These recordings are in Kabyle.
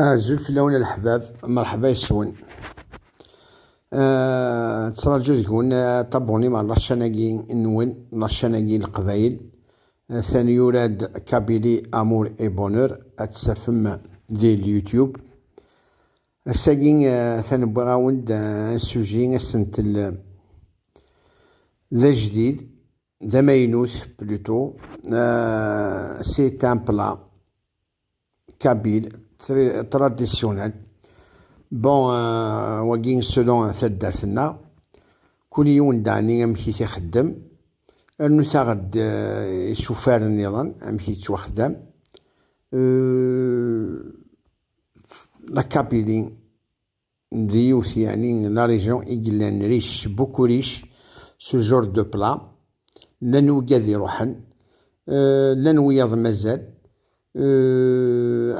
Azul fell-awen a leḥbab, merḥba yes-wen. Nettraǧu deg-wen tabuni ma laččan-agi nwen, laččan-agi n Leqbayel. Atan yura-d Kabili Amour et Bonheur, ad t-tafem di l-YouTube. Ass-agi atan wwiɣ-awen-d un sujet asentel d ajdid, d amaynut plutôt. C'est un plat. kabyle traditionnel bon euh, wagi selon taddart-nneɣ kul yiwen dani amek i t-ixeddem rnu taɣ-d euh, isufaren niḍen amek yettwaxdam euh, la kabyle d yiwet yeɛni la région i yellan riche beaucoup riche ce genre de plat llan wigad iruḥen llan wiyaḍ mazal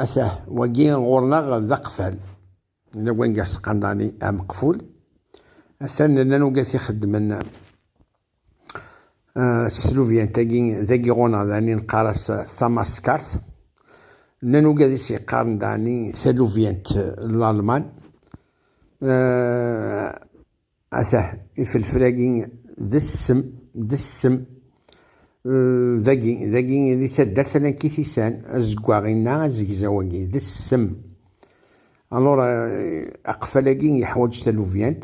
atah wagi ɣur-neɣ d aqfal yella wanga seqandani ameqful atan llan wigad t-ixeddmen Eh, teslubyant-agi d agiɣuneɣ dani neqqar-as tamaskart nnan ugadis yeqqaren dani talubyant n lalman eh, ata ifelfel-agi d ssem d ssem eh, dagi dagi di taddart ala kitisan azeggaɣ-inna azegzaw-agi d ssem alors aqfal-agi yeḥwaǧ talubyant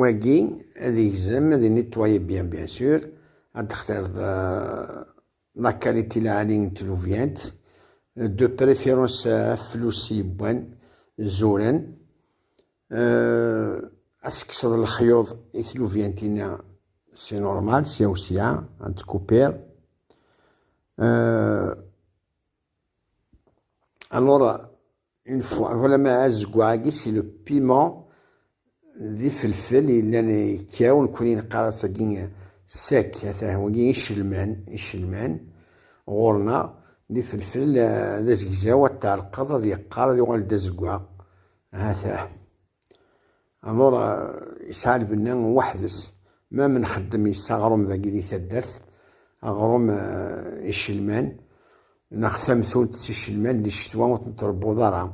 Wagi ad igzem, ad nettoyer bien bien sûr, ad textireḍ la qualité lɛali n tlubyant, de préférence aflus yewwan, zuren, ad tekkseḍ lexyuḍ i tlubyantin-a si normal, sya u sya, ad tkupiḍ. Alors, une fois voilà ma azeggaɣ-agi si le piment d ifelfel yellan ikkaw nekni neqqar-as-agi sec ata wagi icelman icelman ɣur-neɣ d ifelfel d azegzaw ad tɛelqeḍ ad yeqqar ad yuɣal d azeggaɣ hata Alors yesɛa lbenna weḥd-s, même nxeddem yes-s aɣrum dagi di taddart, aɣrum icelman neɣ tamtunt s icelman di ccetwa ur ten-trebbuḍ ara,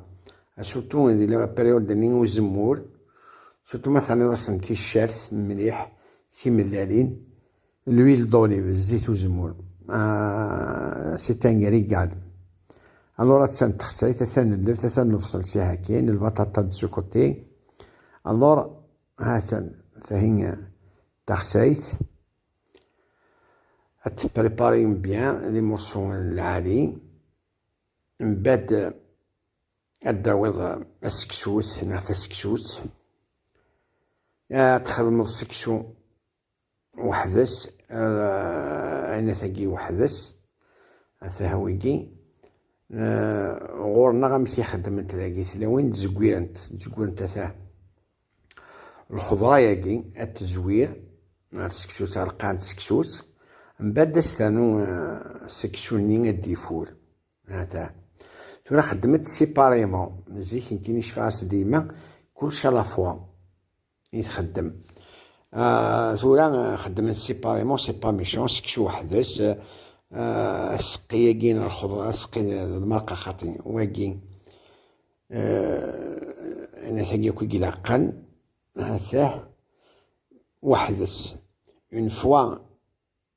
asutu di la période nni n uzemmur, surtout ma terniḍ-asen ticcert mliḥ, timellalin. L'huile d'olive, zzit uzemmur, ah, c'est un régal. Alors, attan texsayt, attan lleft, attan nebṣel si hakin, lbaṭaṭa d su côté. Alors, attan tahin texsayt. Ad t-préparer bien, les morceaux lali. Mbad, ad d-tawiḍ aseksut, neɣ taseksut. Ad txedmeḍ seksu weḥd-s ayennat-agi weḥd-s atah wigi ɣur-neɣ amek i xeddment dagi tlawin d-zegwirent d-zegwirent atah lxeḍra-yagi ad tezwir ar seksu-tt ar lqaɛen d seksu-tt mbad as ternu seksu-nni ad d-ifur atah tura xeddmet siparima zik nekini cfaɣ-as dima kulci a la fois i txeddem ah, tura ah, xeddmen séparément c'est pas méchant seksu weḥd-s ah, aseqqi-agi n lxeḍra aseqqi d lmerqa xaṭi wagi anatagi akk i ilaqen hatah weḥd-s une fois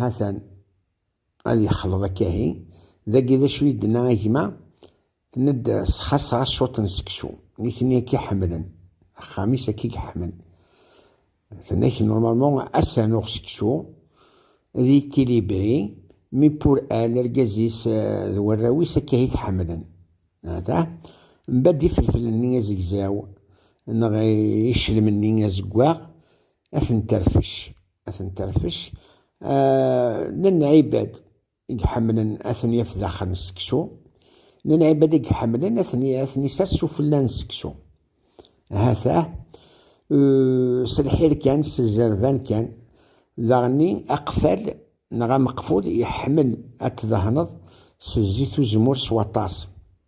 Ha-t-an ad yexleḍ akka ahi. Dagi d acu i d-tenna a gma? Tenna-d sxaṣeɣ-as cwiṭ n seksu. Nitni akka i ḥemmlen. Axxam-is akka i yeḥmen. Tenna-k normalement ad s-rnuɣ seksu, d équilibré, mais pour elle, argaz-is d warraw-is akka i t-ḥemmlen. Ha-t-a. Mbadd iferfel-nni azegzaw neɣ iclem-nni azeggaɣ ad ten-terfec. ad ten-terfec nnan ɛibad i iḥemmlen ad ten-yaf daxel n seksu nnan ɛibad i iḥemmlen ad ten-isers sufella n seksu hata s lḥir kan s zzerban kan daɣenni aqfal neɣ ameqful iḥemmel ad t-dehneḍ s zzit uzemmur s waṭas